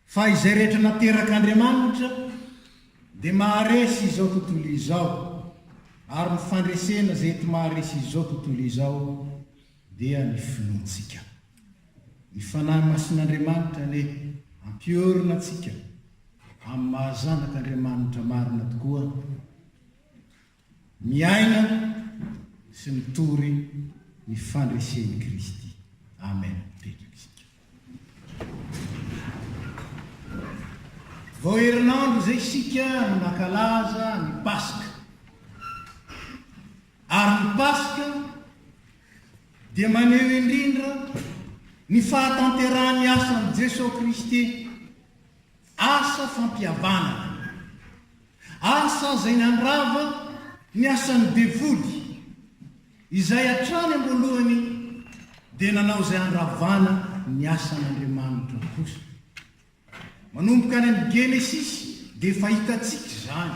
Fa izay rehetra naterak'Andriamanitra dia maharesy izao tontolo izao, ary ny fandresena izay ety maharesy izao tontolo izao dia ny finoantsika. Ny Fanahy Masin'Andriamanitra anie hampiorina antsika amin'ny maha zanak'Andriamanitra marina tokoa. Miaina sy mitory ny fandresen'i Kristy. Amen. Mipetraka isika. Vao herinandro izay isika no nankalaza ny Paska. Ary ny Paska dia maneho indrindra ny fahatanterahan'ny asan'i Jesoa Kristy. Asa fampihavanana. Asa izay nandrava ny asan'ny devoly, izay hatrany am-boalohany dia nanao izay handravana ny asan'Andriamanitra kosa. Manomboka any amin'ny Genesisy dia efa hitantsika izany,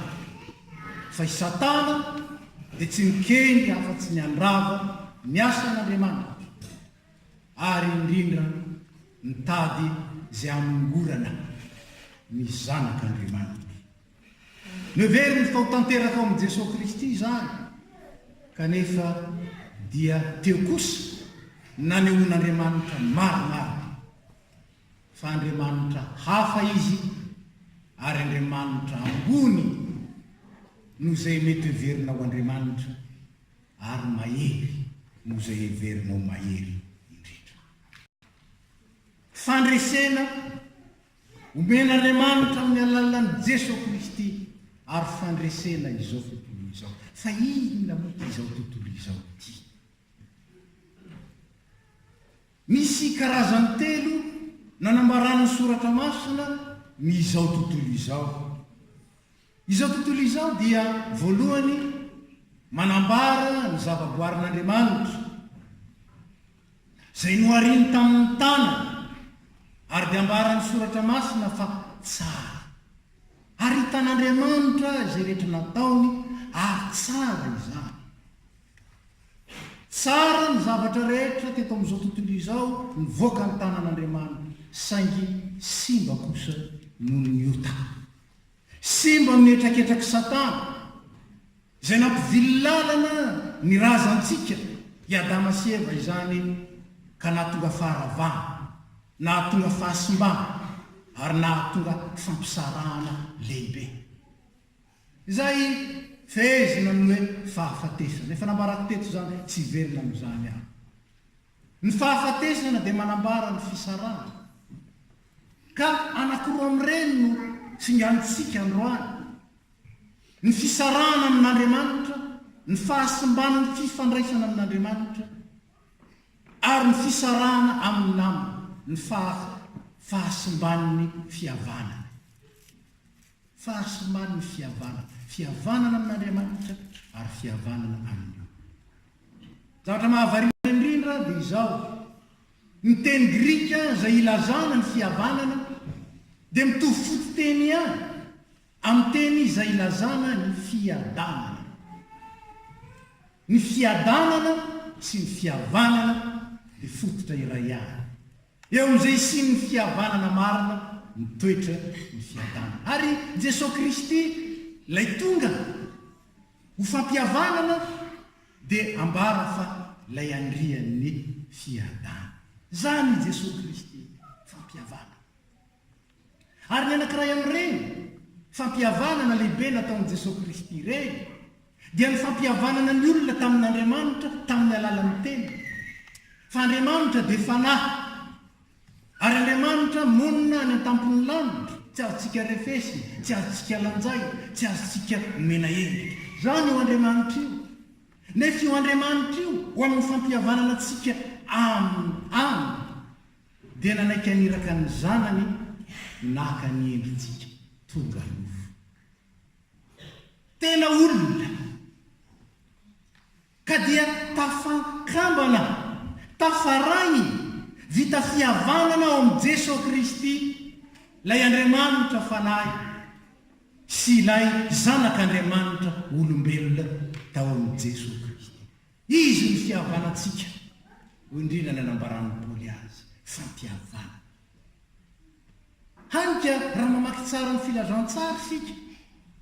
fa i Satana dia tsy nikendry afa-tsy ny handrava ny asan'Andriamanitra. ary indrindra mitady izay hanongorana ny zanak' Andriamanitra. Noheveriny fa ho tanteraka ao amin' i Jesoa Kristy izany, kanefa dia teo kosa nanehoan' Andriamanitra maromaro fa Andriamanitra hafa Izy ary Andriamanitra ambony noho izay mety hoheverina ho Andriamanitra. Ary mahery noho izay heverinao mahery indrindra. Fandresena omen'Andriamanitra amin'ny alalan'i Jeso Kristy ary fandresena izao tontolo izao. Fa inona moa ity izao tontolo izao ity? Misy karazany telo nanambaran'ny Soratra Masina ny izao tontolo izao. Izao tontolo izao dia voalohany manambara ny zavaboarin'Andriamanitra izay nohariny tamin'ny tanany ary dia ambaran'ny soratra masina fa tsara. Ary hitan'Andriamanitra izay rehetra nataony ary tsara izany. Tsara ny zavatra rehetra teto amin'izao tontolo izao nivoaka ny tanan'Andriamanitra saingy simba kosa noho ny ota. Simba amin'ny hetraketrak'i Satana, izay nampivily lalana ny razantsika, i Adama sy Eva izany, ka nahatonga faharavana, nahatonga fahasimbana, ary nahatonga fampisarahana lehibe, izay fehezina amin'ny hoe fahafatesana. Efa nambarako teto izany, tsy hiverina amin'izany aho. Ny fahafatesana dia manambara ny fisarahana. Ka anankiroa amin'ireny no tsinganintsika androany. Ny fisarahana amin'Andriamanitra, ny fahasimban'ny fifandraisana amin'Andriamanitra, ary ny fisarahana amin'ny namana, ny fahasimban'ny fihavanana. Fahasimbany ny fihavanana, fihavanana amin'Andriamanitra ary fihavanana amin'ny olona. Ny zavatra mahavariana indrindra dia izao, ny teny grika izay ilazana ny fihavanana dia mitovy fototeny ihany amin'ny teny izay ilazana ny fiadanana. Ny fiadanana sy ny fihavanana dia fototra iray ihany. Eo amin'izay hisian'ny fihavanana marina mitoetra ny fiadanana. Ary Jesoa Kristy ilay tonga ho fampihavanana dia ambara fa ilay andrian'ny fiadanana. Izany i Jesoa Kristy, fampihavanana. Ary ny anankiray amin'ireny fampihavanana lehibe nataon'i Jesoa Kristy ireny dia ny fampihavanana ny olona tamin'Andriamanitra tamin'ny alalan'ny Teniny. Fa Andriamanitra dia Fanahy, ary Andriamanitra monina any an-tampon'ny lanitra, tsy azontsika refesina, tsy azontsika lanjaina, tsy azontsika omena endrika. Izany io Andriamanitra io. Nefa io Andriamanitra io ho amin'ny fampihavanana antsika aminy. Dia nanaiky haniraka ny zanany naka ny endritsika tonga nofo. Tena olona! Ka dia tafankambana, tafaray, vita fihavanana ao amin'i Jeso Kristy, ilay Andriamanitra Fanahy sy ilay Zanak'Andriamanitra olombelona tao amin'i Jeso Kristy. Izy no fihavanantsika, hoy indrindra ny anambaran'i Paoly azy, fampihavana. Hany ka raha mamaky tsara ny filazantsara isika,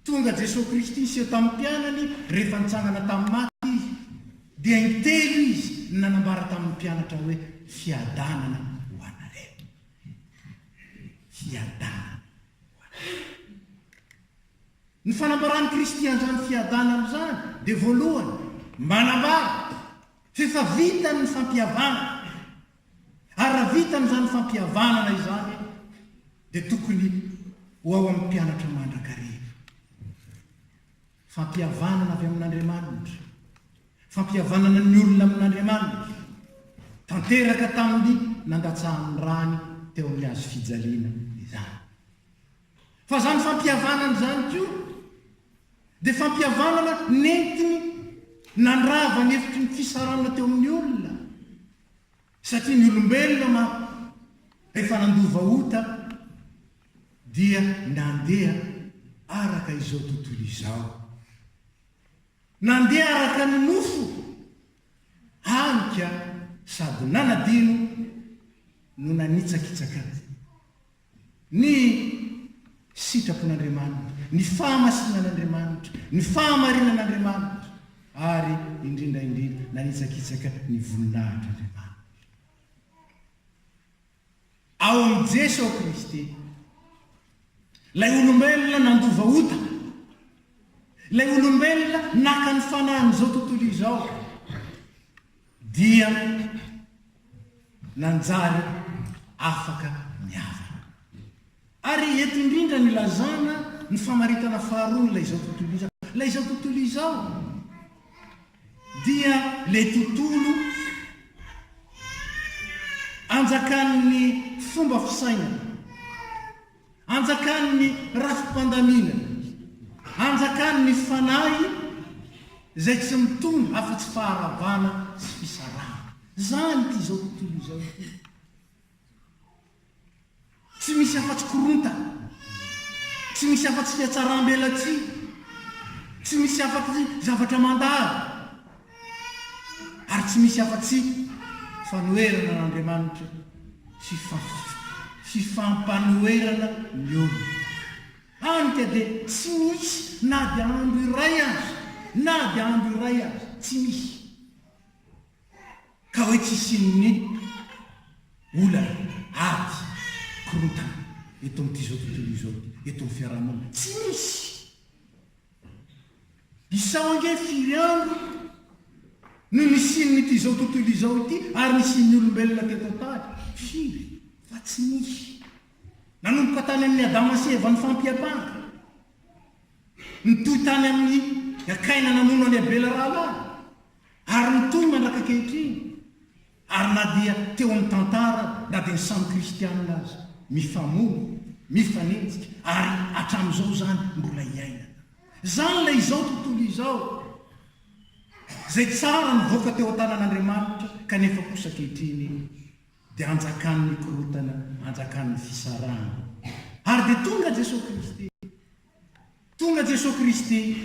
tonga Jesoa Kristy niseho tamin'ny mpianany rehefa nitsangana tamin'ny maty Izy, dia intelo Izy no nanambara tamin'ny mpianatra hoe, Fiadanana ho anareo. Fiadanana ho anareo. Ny fanambaran'i Kristy an'izany fiadanana izany dia voalohany manambara f'efa vitany ny fampihavanana ary raha vitany izany fampihavanana izany dia tokony ho ao amin'ny mpianatra mandrakariva. Fampihavanana avy amin'Andriamanitra, fampihavanana ny olona amin'Andriamanitra, tanteraka tamin'ny nandatsahan'ny rany teo amin'ny hazo fijaliana izany. Fa izany fampihavanana izany koa dia fampihavanana nentiny nandrava ny efitry ny fisarahana teo amin'ny olona, satria ny olombelona manko rehefa nandova ota dia nandeha araka izao tontolo izao. Nandeha araka ny nofo, hany ka sady nanadino no nanitsakitsaka azy. Ny sitrapon'Andriamanitra, ny fahamasinan'Andriamanitra, ny fahamarinan'Andriamanitra, ary indrindra indrindra, nanitsakitsaka ny voninahitr'Andriamanitra. Ao amin'i Jeso Kristy, Ilay olombelona nandova ota, Ilay olombelona naka ny fanahin'izao tontolo izao, dia nanjary afaka niavaka. Ary eto indrindra no ilazana ny famaritana faharoa n'ilay izao tontolo izao. Ilay izao tontolo izao dia ilay tontolo anjakan'ny fomba fisainana. Anjakan' ny rafi-pandamina, anjakan' ny fanahy izay tsy mitondra afa-tsy faharavana sy fisarahana. Izany ity izao tontolo izao ity. Tsy misy afa-tsy korontana, tsy misy afa-tsy fiatsaram-belatsihy, tsy misy afa-tsy zavatra mandalo, ary tsy misy afa-tsy fanoherana an'Andriamanitra sy fifampanoherana ny olona. Hany ka dia tsy misy na dia andro iray aza, na dia andro iray aza, tsy misy ka hoe tsy hisian'ny olana, ady, korontana eto amin'ity izao tontolo izao ity, eto amin'ny fiaraha-monina. Tsy misy! Isao ange firy andro no nisian'ity izao tontolo izao ity ary nisian'ny olombelona teto an-tany? Firy? Fa tsy nisy. Nanomboka tany amin'i Adama sy Eva nifampiampanga. Nitohy tany amin'i Kaina namono an'i Abela rahalahy. Ary mitohy mandrak'ankehitriny. Ary na dia teo amin'ny tantara, na dia ny samy kristiana aza, mifamono, mifanenjika, ary hatramin'izao izany mbola iainana. Izany ilay izao tontolo izao, izay tsara nivoaka teo an-tanan'Andriamanitra, kanefa kosa ankehitriny dia hanjakan'ny korontana, hanjakan'ny fisarahana. Ary dia tonga Jesoa Kristy. Tonga Jesoa Kristy.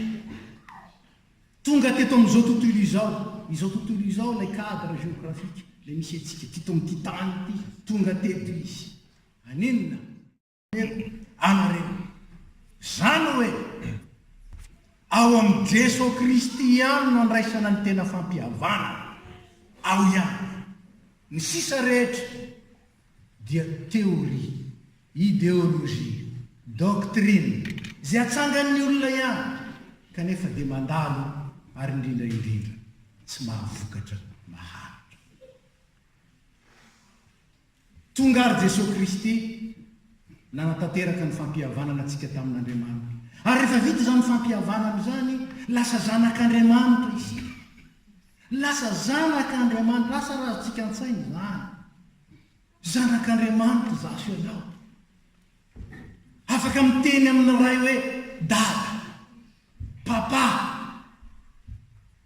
Tonga teto amin'izao tontolo izao. Izao tontolo izao ilay cadre géographique, ilay misy antsika teto amin'ity tany ity. Tonga teto Izy. Hanenina. Anareo. Izany hoe, ao amin'i Jesoa Kristy ihany no andraisana ny tena fampihavanana. Ao ihany. Ny sisa rehetra dia théorie. Ideolojia, doctrine, izay atsangan'ny olona ihany kanefa dia mandalo ary indrindra indrindra tsy mahavokatra maharitra. Tonga ary Jesoa Kristy nanatanteraka ny fampihavanana antsika tamin'Andriamanitra. Ary rehefa vita izany fampihavanana izany, lasa zanak'Andriamanitra isika. Lasa zanak'Andriamanitra, lasa razantsika an-tsaina izany. Zanak'Andriamanitra izaho sy ianao. Afaka miteny amin'ny Ray hoe Dada, Papa,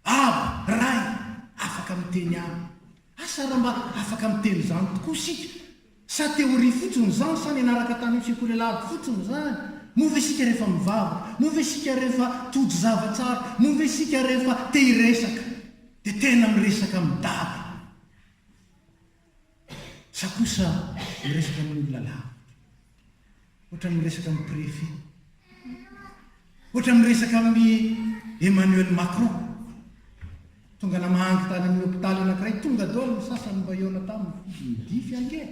Aba, Ray. Afaka miteny Aminy. Asa raha mba afaka miteny izany tokoa isika? Sa teoria fotsiny izany? Sa nianaraka tany amin'ny sekoly alahady fotsiny izany? Moa ve isika rehefa mivavaka, moa ve isika rehefa tojo zava tsara, moa ve isika rehefa te hiresaka dia tena miresaka amin'i Dada? Sa kosa miresaka amin'ny olona lavitra? Ohatra miresaka amin'ny préfet? Ohatra miresaka amin'i Emmanuel Macron? Tonga namahangy tany amin'ny hopitaly anankiray, tonga daholo ny sasany mba hihaona taminy, izy nidify ange!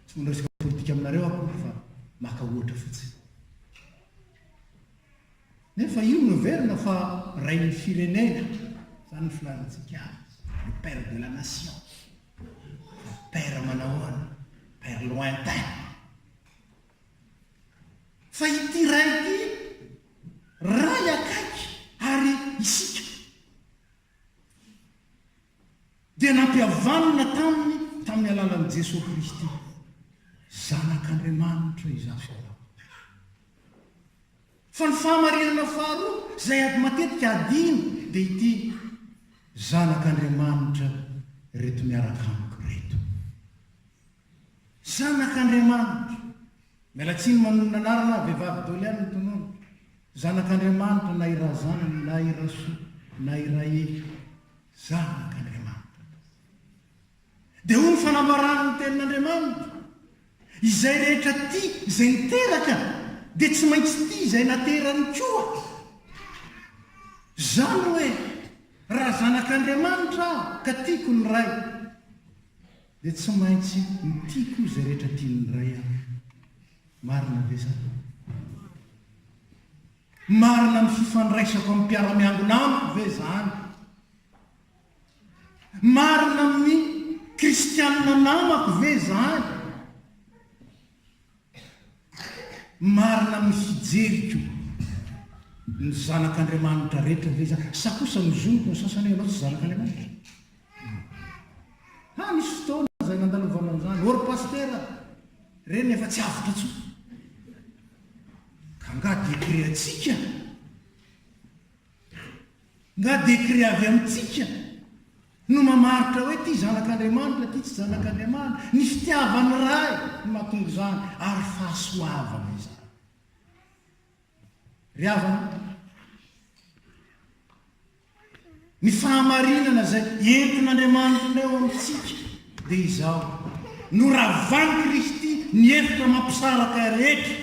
Tsy mba miresaka politika aminareo aho akory fa maka ohatra fotsiny. Nefa io no heverina fa rain'ny firenena, izany no filazantsika azy, le père de la nation. Père manahoana? Père lointain. Fa ity ray ity, ray akaiky ary isika. dia nampihavanina taminy tamin'ny alalan'i Jesoa Kristy, Zanak'Andriamanitra izaho sy anao. Fa ny fahamarinana faharoa izay ady matetika adino dia ity, Zanak'Andriamanitra ireto miaraka amiko ireto. Zanak'Andriamanitra! Miala tsiny manonona anarana aho, vehivavy Dolian ny tonony. Zanak'Andriamanitra na i Razan, na i Rasoa, na i Raely. Zanak'Andriamanitra tokoa. Dia hoy ny fanambaran'ny Tenin'Andriamanitra, Izay rehetra tia izay niteraka, dia tsy maintsy tia izay naterany koa. Izany hoe, raha zanak'Andriamanitra aho ka tiako ny Ray, Dia tsy maintsy mitia koa izay rehetra tian'ny Ray aho. Marina ve izany? Marina ny fifandraisako amin'ny mpiara-miangona amiko ve izany? Marina amin'ny kristianina namako ve izany? Marina amin'ny fijeriko ny zanak'Andriamanitra rehetra ve izany? Sa kosa ny zoniko ny sasany hoe ianao tsy zanak'Andriamanitra? Haa nisy fotoana izay nandalovana an'izany, ô ry Pasitera a! Ireny efa tsy avotra intsony. Ka nga dekreantsika? Nga dekre avy amintsika? no mamaritra hoe ity zanak'Andriamanitra ity tsy zanak'Andriamanitra, ny fitiavan'ny Ray no mahatonga izany ary fahasoavana izany. Ry havana, ny fahamarinana izay entin'Andriamanitra eo amintsika dia izao, noravan'i Kristy ny hevitra mampisaraka rehetra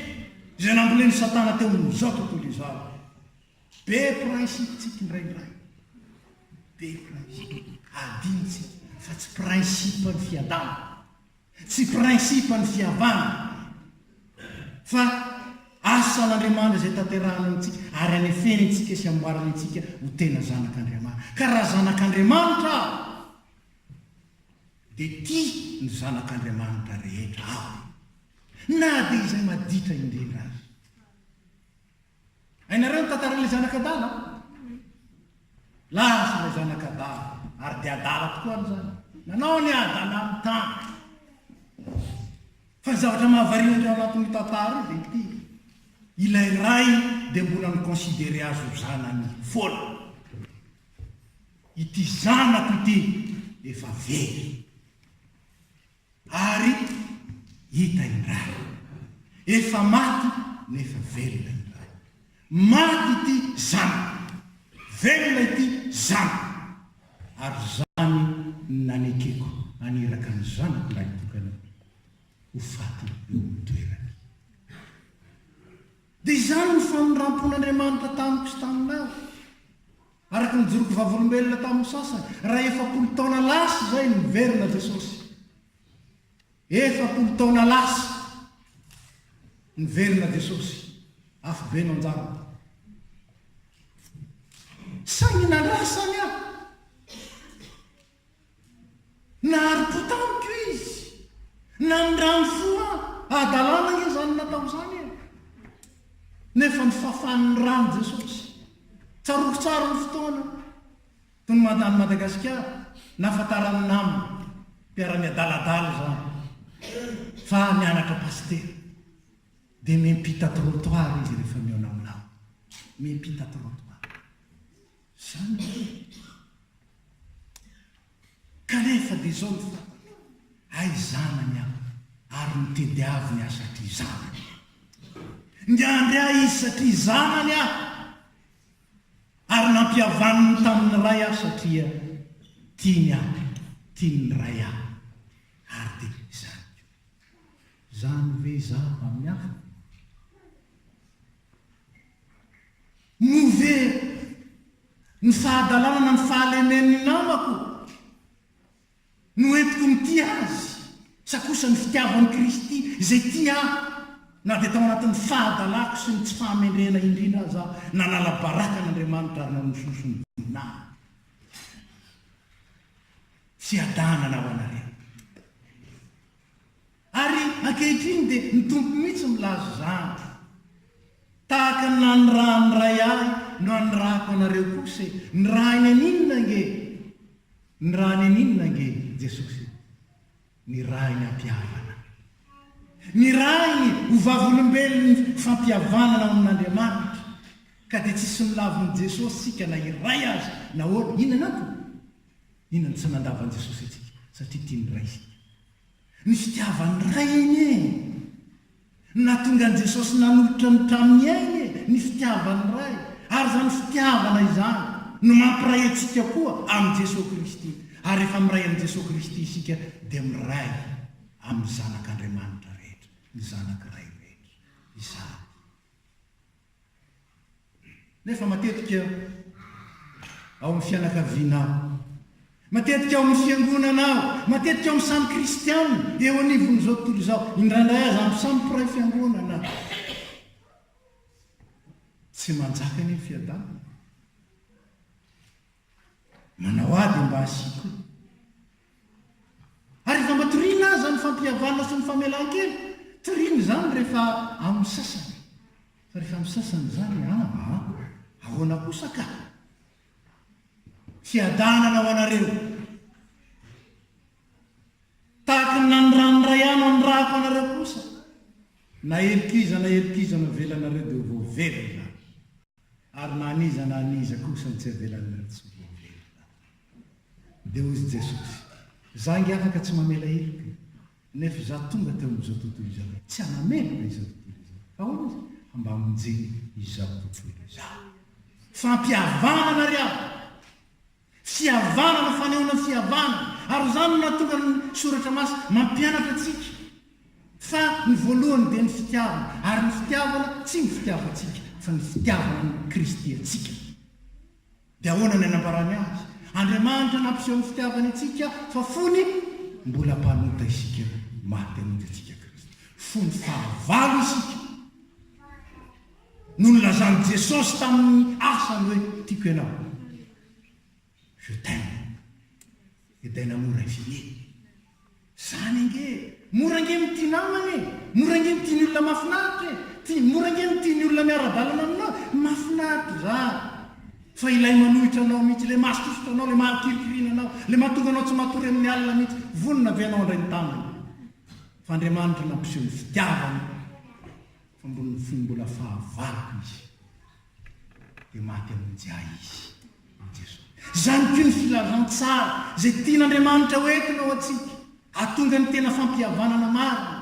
izay nambolen'i Satana teo amin'izao tontolo izao. Be principe-tsika indraindray. Be principe. Adinontsika fa tsy principe ny fiadanana. Tsy principe ny fiavana. Fa asan'Andriamanitra izay tanterahany amintsika ary anefeny antsika sy amboariny antsika ho tena zanak'Andriamanitra. Ka raha zanak'Andriamanitra aho, dia tia ny zanak'Andriamanitra rehetra aho. Na dia izay maditra indrindra aza. Hainareo ny tantaran'ilay zanak'adala? Lasa ilay zanak'adala, ary dia adala tokoa ary izany. Nanao ny adala amin'ny tany. Fa ny zavatra mahavariana indray ao anatin'io tantara io dia ity. Ilay ray dia mbola mi-considerer azy ho zanany foana. Ity zanako ity efa very. Ary hita indray. Efa maty nefa velona indray. Maty ity zanako. Velona ity zanako. Ary izany no nanekeko haniraka ny zanako lahy tokana ho faty eo amin'ny toerany. Dia izany no famindram-pon'Andriamanitra tamiko sy taminao. Araka ny joroko vavolombelona tamin'ny sasany, raha efapolo taona lasa izay no niverina Jesosy. Efapolo taona lasa niverina Jesosy, afobe no anjarany. Saingy nandrasany aho. Nahari-po tamiko izy. Namindrany fo aho. Hadalana ange izany natao izany e! Nefa ny fafan'ny ran'i Jesosy. Tsaroako tsara ny fotoana tony mandany Madagasikara, nahafantaran'ny namana, mpiara-miadaladala izany, fa mianatra pasitera. Dia miampita trottoir izy rehefa mihaona aminao. Miampita trottoir. Izany ve no tiako? Kanefa dia izao no fantako, hay zanany aho ary nitediaviny ahy satria zanany aho. Niandry ahy izy satria zanany aho, ary nampihavaniny tamin'ny ray aho satria tiany ahy, tiany ny ray aho, ary dia izany koa. Izany ve izaho amin'ny hafa? Moa ve ny fahadalana na ny fahalemen'ny namako no entiko mitia azy sa kosa ny fitiavan'i Kristy izay tia ahy na dia tao anatin'ny fahadalako sy ny tsy fahamendrehana indrindra aza aho? Nanala baraka an'Andriamanitra ary nanososo ny voninahiny. Tsy Adama na ho anareo. Ary ankehitriny dia ny Tompo mihitsy no milaza izany. Tahaka ny nanirahan'ny Ray ahy no anirahako anareo kosa e! Nirahiny an'inona ange? Nirahiny an'inona ange Jesosy e? Nirahiny am-pihavana. Nirahiny ho vavolombelon'ny fampihavanana ao amin'Andriamanitra. Ka dia tsisy milavon'i Jesosy isika na iray aza. Nahoana? Inona no antony? Inona no tsy nandavan'i Jesosy antsika? Satria tia ny Ray isika. Ny fitiavan'ny Ray anie e! No nahatonga an'i Jesosy nanolotra ny tranony ainy e! Ny fitiavan'ny Ray. Ary izany fitiavana izany no mampiray antsika koa amin'i Jesosy Kristy. Ary rehefa miray amin'i Jesosy Kristy isika dia miray amin'ny Zanak'Andriamanitra rehetra, ny Zanak'i Ray rehetra. Izany. Nefa matetika ao amin'ny fianakaviana aho, matetika ao amin'ny fiangonana aho, matetika ao amin'ny samy kristianina eo anivon'izao tontolo izao, indraindray aza amin'ny samy mpiray fiangonana aho. Tsy manjaka anie ny fiadanana. Manao ady mba hasiako. Ary efa mba toriana aza ny fampihavanana sy ny famelan-keloka. Toriana izany rehefa amin'ny sasany. Fa rehefa amin'ny sasany izany amba an! Ahoana kosa ka! Fiadanana ho anareo. Tahaka ny nanirahany Ray ahy no anirahako anareo kosa. Na heloka iza na heloka iza navelanareo dia ho voavela izany. Ary na an'iza na an'iza kosa no tsy avelan'ny olon-tsoa hiverina, dia hozy Jesosy, Za nge afaka tsy mamela heloka e, nefa Za tonga teo amin'izao tontolo izao tsy hanameloka izao tontolo izao. Ahoana izy? Fa mba hamonjena izao tontolo izao. Fampihavanana ry havana! Fihavanana, fanehoana fihavanana. Ary izany no nahatonga ny Soratra Masina mampianatra antsika fa ny voalohany dia ny fitiavana, ary ny fitiavana tsy ny fitiavantsika fa ny fitiavan'i Kristy antsika. Dia ahoana ny anambarany azy? Andriamanitra nampiseho ny fitiavany antsika fa fony mbola mpanota isika no maty hamonjy antsika Kristy. Fony fahavalo isika. no nilazan'i Jesosy tamin'ny asany hoe, Tiako ianao. Je t'aime. Edaina mora i Fille. Izany ange e! Mora ange ny tia namana e! Mora ange ny tia ny olona mahafinaritra e! Tia, mora ange ny tia ny olona miara-dalana aminao. Mahafinaritra izany. Fa ilay manohitra anao mihitsy, ilay mahasosotra anao, ilay mahakirikirina anao, ilay mahatonga anao tsy matory amin'ny alina mihitsy, vonona ve ianao handray ny tanany? Fa Andriamanitra nampiseho ny fitiavany. Ambon'ny fony mbola fahavaloko izy, dia maty hamonjy ahy izy, i Jesoa. Izany koa ny filazantsara izay tian'Andriamanitra ho entina ho antsika, hahatonga ny tena fampihavanana marina,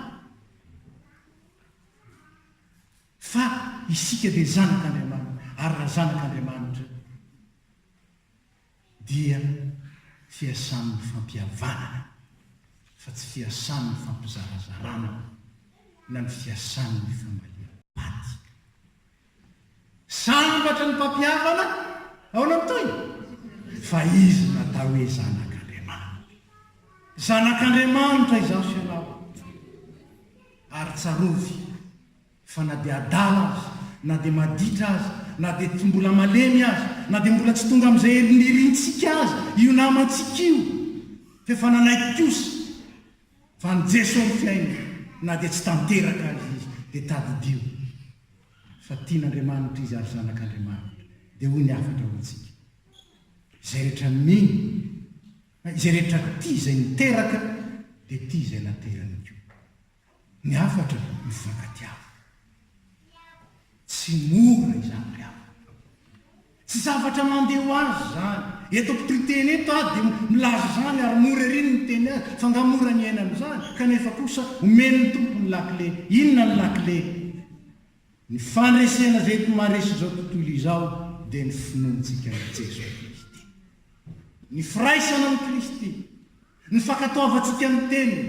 fa isika dia zanak'Andriamanitra, ary raha zanak'Andriamanitra, dia fiasan'ny fampihavanana fa tsy fiasan'ny fampizarazarana na ny fiasan'ny fambaliam-paty. Sambatra ny mpampihavana ao Namtoina fa izy natao hoe zanak'Andriamanitra. Zanak'Andriamanitra izaho sy ianao ary tsarovy Fa na dia adala aza, na dia maditra aza, na dia tsy mbola malemy aza, na dia mbola tsy tonga amin'izay hery nirintsika aza io namantsika io, f'efa nanaiky kosa fa an'i Jeso ny fiainana, na dia tsy tanteraka aza izy, dia tadidio fa tian'Andriamanitra izy ary zanak'Andriamanitra. Dia hoy ny hafatra ho antsika, Izay rehetra mino, na izay rehetra tia izay niteraka, dia tia izay naterany koa. Ny hafatra mifankatiava. Tsy mora izany ry havana. Tsy zavatra mandeha ho azy izany. Eto ampitoiteny eto aho dia milaza izany ary mora ery ny miteny azy fa nga mora ny iainana izany? Kanefa kosa omen'ny Tompo ny lakile. Inona ny lakile? Ny fandresena izay eto maharesy izao tontolo izao dia ny finoantsika an'i Jesoa Kristy. Ny firaisana amin'i Kristy. Ny fankatoavantsika ny Teniny,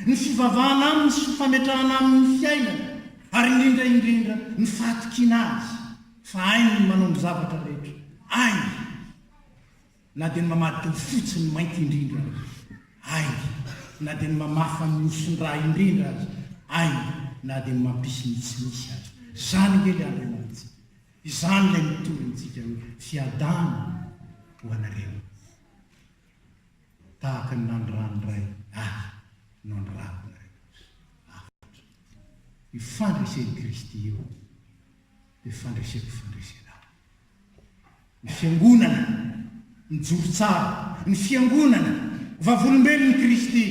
ny fivavahana Aminy sy fametrahana Aminy ny fiainana, ary indrindra indrindra ny fahatokiana Azy fa hainy ny manao ny zavatra rehetra, hainy na dia ny mamadika ho fotsy ny mainty indrindra aza, hainy na dia ny mamafa ny oson-dra indrindra aza, hainy na dia ny mampisy ny tsy misy aza. Izany ange ilay Andriamanitsika. Izany ilay mitory antsika hoe, Fiadana ho anareo. Tahaka ny naniràn'ny Ray Ahy no anirako nareo kosa. Hafatra. Io fandresen'i Kristy io dia fandreseko fandresena ahy. Ny Fiangonana mijoro tsara, ny Fiangonana, vavolombelon'i Kristy,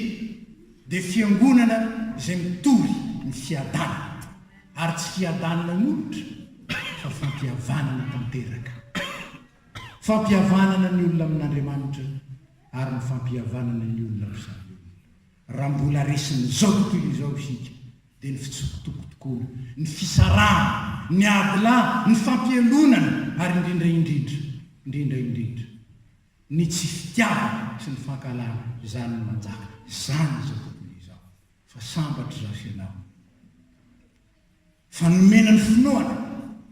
dia Fiangonana izay mitory ny fiadanana, ary tsy fiadanana molotra fa fampihavanana tanteraka. Fampihavanana ny olona amin'Andriamanitra ary ny fampihavanana ny olona amin'ny samy olona. Raha mbola resin'izao tontolo izao isika, dia ny fitsokotokon-taona, ny fisarahana, ny ady lahy, ny fampihelonana ary indrindra indrindra, indrindra indrindra, ny tsy fitiavana sy ny fankahalana, izany no manjaka. Izany izao tontolo izao fa sambatra izaho sy ianao. Fa nomena ny finoana,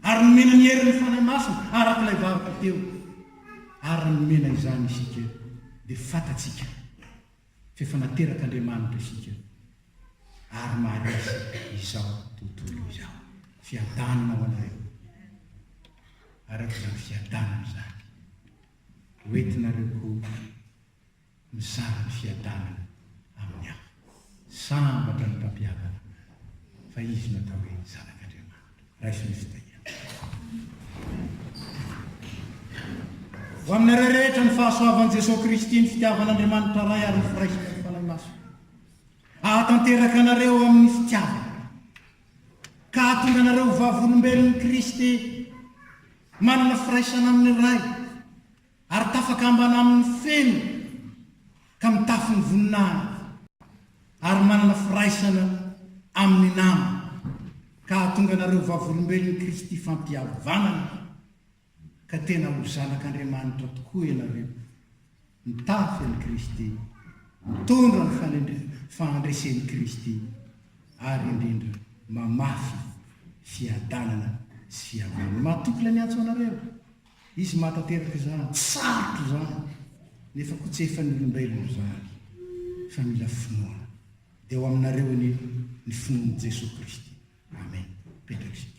ary nomena ny herin'ny Fanahy Masina araka ilay varotra teo, ary nomena izany isika, dia fantatsika f'efa naterak'Andriamanitra isika, ary maharesy izao tontolo izao. Fiadanana ho anareo, araka izany fiadanana izany ho entinareo koa. mizara ny fiadanany amin'ny hafa. Sambatra ny mpampiadana amin'izany, fa izy no atao hoe Zanak'Andriamanitra. Raiso ny fitahiana. Ho aminareo rehetra ny fahasoavan'i Jesoa Kristy, ny fitiavan'Andriamanitra Ray ary ny firaisana ny Fanahy Masina hahatanteraka anareo amin'ny fitiavana ka hahatonga anareo ho vavolombelon'i Kristy manana firaisana amin'ny Ray. Ary tafakambana amin' ny feno ka mitafy ny voninahiny, ary manana firaisana amin' ny nama, ka hahatonga anareo vavolombelon' i Kristy fampihavanana, ka tena ho zanak' Andriamanitra tokoa ianareo, mitafy an' i Kristy, mitondra ny fahandresen' i Kristy, ary indrindra mamafy fiadanana sy fihavanana. Mahatoky ilay miantso anareo. Izy maha tanteraka izany, tsy sarotra izany, nefa koa tsy efan'ny olombelona izany, fa mila finoana. Dia ho aminareo anie ny finoan'i Jesoa Kristy. Amen. Petra isika.